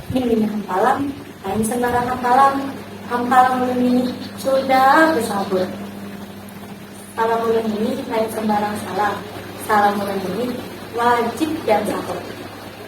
Mimih hampalam, lain sembarang hampalam, hampalam ulun ini sudah besabut. Salam ulun ini lain sembarang salam, salam ulun ini wajib dan sahut.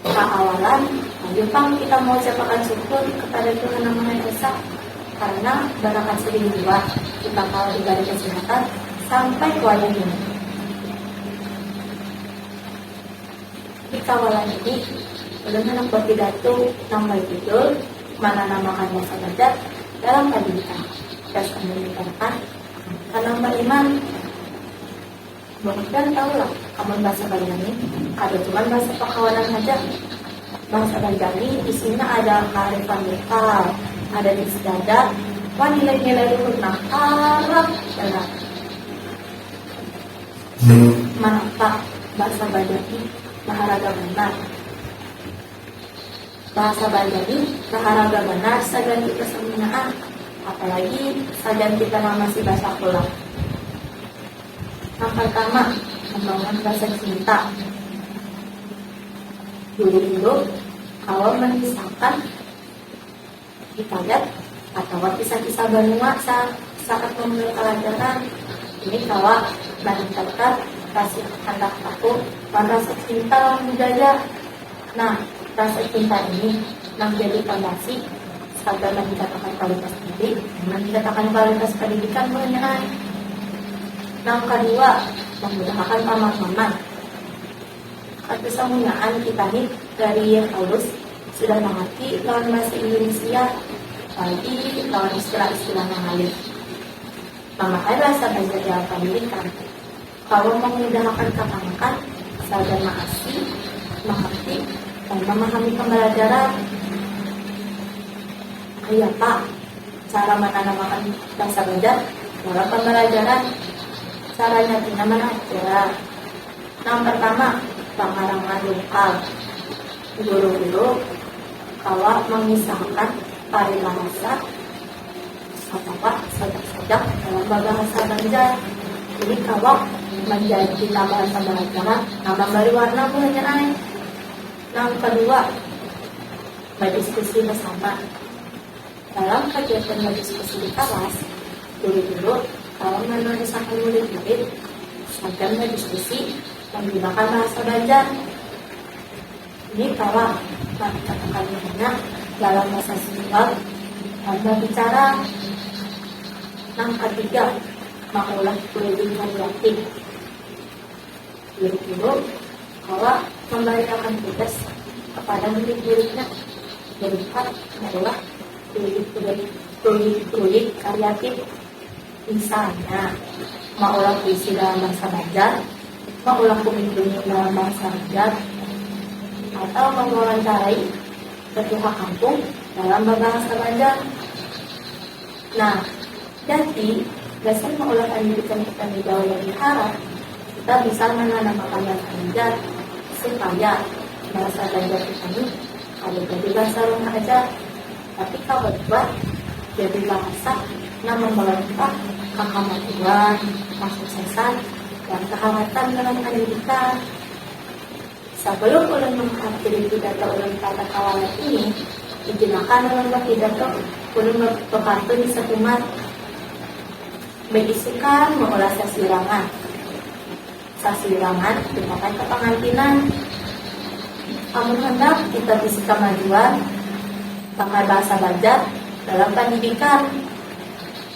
Pahawalan, hayu pang kita maucapakan syukur kepada Tuhan Nang Maha Esa karna barakat sidin jua kita kawa dibari kesihatan sampai ke wayah ini. Di kawalan ini, ulun handak bapidatu nang bajudul Mananamakan Rasa Badak dalam Padinta, Tes Andika Kah? Tanam Bariman. Bang Iban tahu lah amun bahasa Banjarni kada cuman bahasa perkawanan haja. Bahasa Banjarni isinya ada kaarifan lokal, adat istiadat, wan nilai-nilai luhur nang harat banar. Mantap, bahasa Banjarni baharaga banar. Bahasa Banjar nih baharaga banar sagan kita saminaan, apalagi sagan kita nang masih basakulah. Nang partama, mambangun rasa cinta. Dulu-dulu kawa mangisahkan. di padat atawa kisah-kisah banua sa saat mamulai palajaran. Ini kawa maningkatkan rasa handak tahu wan rasa cinta lawan budaya. Nah, rasa cinta ini nang jadi pondasi sagan maningkatakan kualitas diri wan maningkatakan kualitas pendidikan buhannya ai. Nang kadua, mambudahakan pamahaman. Katesamunyaan kita ni dari Yeh Paulus sudah mangarti lawan bahasa Indunisia apalagi lawan istilah-istilah nang ngalih. Mamakai bahasa Banjar di alat pandidikan kawa mamudahakan kakanakan sagan maasi, mangarti, wan mamahami pambalajaran. Kayapa cara mananamakan bahasa Banjar dalam pambalajaran? Caranya pina manah ja. Nang pertama, pakarangan lukal. Guru-guru kawa mangisahakan paribahasa atawa sajak-sajak dalam babahasa Banjar. Ini kawa manjadi pita bahasa balajaran nang mambari warna buhannya ai. Nang kadua, badiskusi basama. Dalam kagiatan berdiskusi di kalas, guru-guru kawa manarusakan murid-murid sagan badiskusi manggunakan bahasa Banjar. Ini kawa mangikatakan dirinya dalam bahasa Sumbar wan babicara. Nang katiga, maulah kuliling kaliatif. kurikulum bahwa pembaritaan tugas kepada murid-muridnya berupa adalah kulit-kulit kreatif misalnya maulah puisi dalam bahasa Banjar maulah kulit kulit dalam bahasa Banjar atau mewawancarai ketua kampung dalam bahasa Banjar Nah, jadi, gasan maulah pandidikan kita ni jauh lebih harat, kita bisa mananamakan yang ganjar supaya bahasa Banjar kita ni kada jadi bahasa rumah aja, tapi kawa jua jadi bahasa nang mambawa kita ka kamajuan, kasuksesan, wan kaharatan dalam pandidikan. Sabalum ulun menghampiri pidato ulun kada kawa lek ini, izin akan ulun bapidato, ulun bepantun di sakumat beisikan maulah sasirangan. Sasirangan tumbakan kapangantinan. Amun handak kita bisi kamajuan bakal bahasa Banjar dalam pandidikan.